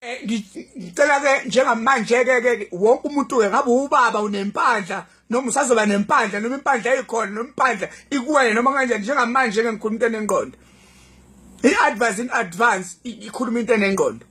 Eh, ngicela ke njengamanje ke ke wonke umuntu ke ngabe ubaba unempandla noma usazoba nempandla noma impandla eyikhona noma impandla ikuwena noma kanjani njengamanje ke ngikhuluma into enengqondo i-advance in advance ikhuluma into enengqondo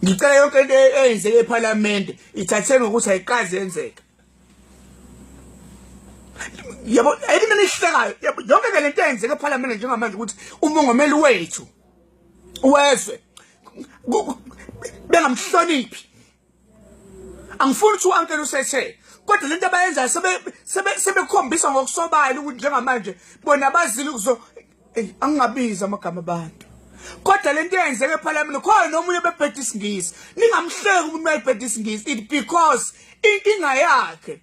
ngicela yonke into e-, eyenzeke ephalamende ithatheni ngokuthi ayiqazi yenzeka yabo ayini mina ihlekayo yonke ke lento eyenzeke ephalamende njengamanje ukuthi umongameli wethu wezwe bengamhloniphi angifuni ukuthi uankele usethe kodwa lento abayenzayo sebekhombisa ngokusobala ukuthi njengamanje bona bazile ukuzo eyi angingabizi amagama abantu kodwa lento eyenzeka ephalamende khona nomunye obebheda isingisi ningamhleki umuntu uma ebheda isingisi it because inkinga yakhe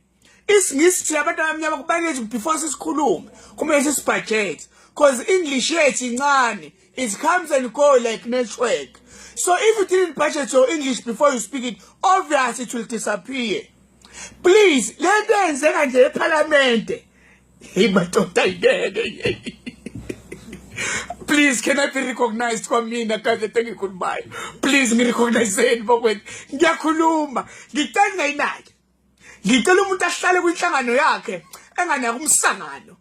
isingisi thina abantu abamnyama kubalulekile ukuthi before sisikhulume kumele sisibhajete because english yethu incane it comes and go like network so if you didn't budget your english before you speak it obvious it will disappear please le nto yenzeka nje ephalamente heyi madoda yingeke please can i be recognized kwamina kade tengikhulumayo please ngirecognizeni bokwethu ngiyakhuluma ngicela ngayinaki ngicela umuntu ahlale kwinhlangano yakhe enganaki umsangano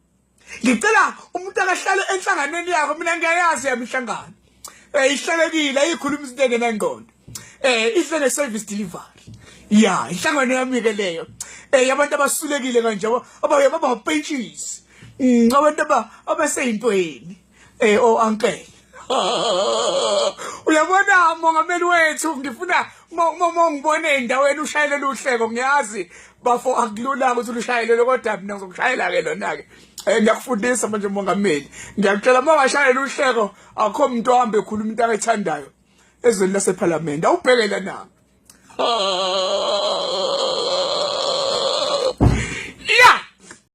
ngicela umuntu akahlale enhlanganweni yakhe mina ngiyayazi yami inhlangano eh ihlelekile ayikhuluma izinto engenangqondo eh ihlele service delivery ya inhlangano yami ke leyo eh abantu abasulekile kanje abaye baba pentshisi mm, abantu abaseyintweni eh o oh, uncle uyabona mongameli wethu ngifuna mongibone endaweni ushayele luhleko ngiyazi bafo akulula ukuthi lushayelele kodwa mina ngizokushayela ke lona ke eh ngiyakufundisa manje mongameli ngiyakutshela uma washayela uhleko akho umuntu ohambe ekhuluma into akayithandayo ezweni lasephalamende awubheke lana